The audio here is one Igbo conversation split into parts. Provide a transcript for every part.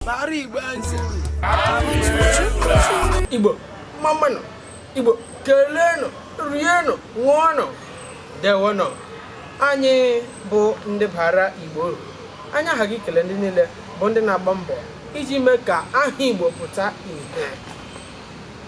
Bara Igbo ntị. Igbo mmanụ Igbo keleenụ rienụ ṅụọnụ ndewonụ anyị bụ ndị bara Igbo uru anyị aghaghị ikele ndị niile bụ ndị na-agba mbọ iji mee ka aha Igbo pụta ihe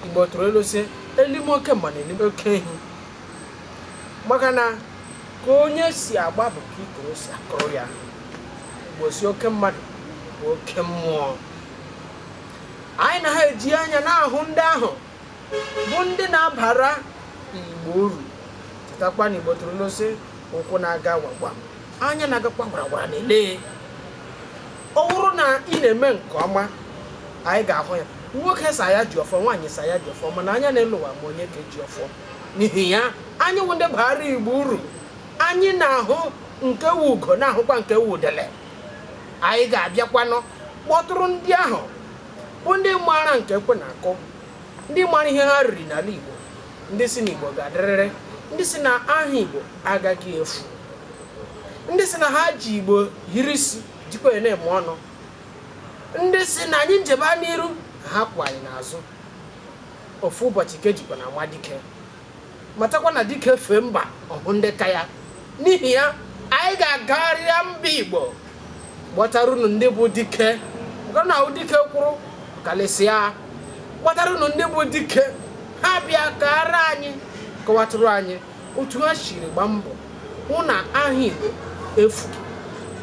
Igbo tụrụ ilu sị elime oke mma na elime oke ehi maka na ka onye si agba bụ ka ikoro si akụrụ ya igbo sị oke mmadụ bụ oke mmụọ anyị na ha eji anya na-ahụ ndị ahụ bụ ndị na-abara igbo uru chetakwa na igbo tụrụ ilu sị ụkwụ na-aga gwaragwara anya na-agakwa gwaragwara na-ele ọ bụrụ na ị na-eme nke ọma anyị ga-ahụ ya nwoke sị ya ji ọfọ nwaanyị sị ya ji ọfọ mana anya na-ele ụwa ma onye ka ji ọfọ n'ihi ya anyị wụ ndị baara igbo uru anyị na-ahụ nke wu ugo na-ahụkwa nke wu udele anyị ga-abịakwanụ kpọtụrụ ndị ahụ bụ ndị maara nke ekwe na-akụ ndị maara ihe ha riri n'ala igbo ndị sị na igbo ga-adịrịrị ndị sị na aha igbo agaghị efu ndị sị na ha ji igbo hiri isi jikwa ya na-eme ọnụ ndị sị na anyị njebe n'iru ha kwụ anyị n'azụ ofu ụbọchị ka e jikwa na-anwa dike matakwa na dike fee mba ọ hụ ndị ka ya n'ihi ya anyị ga-agagharịa mba igbo kpọtara unu ndị bụ dike maka na a hụ dike kwụrụ kelesịa kpọtara unu ndị bụ dike ha bịa kaara anyị kọwatụrụ anyị otu ha siri gba mbọ hụ na aha igbo efu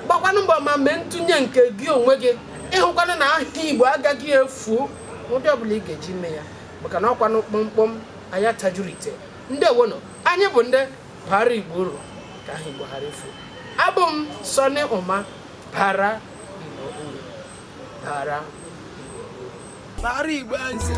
gbakwanụ mbọ ma mee ntụnye nke gị onwe gị ịhụkwanụ na aha igbo agaghị efu ụdị ọbụla ị ga-eji mee ya maka na ọkwanụ kpọmkpọm mmanya atajuru ite ndewonụ anyị bụ ndị bara igbo uru ka aha igbo ghara ifu abụ m sọni ụma bara igbo uru bara bara igbo uru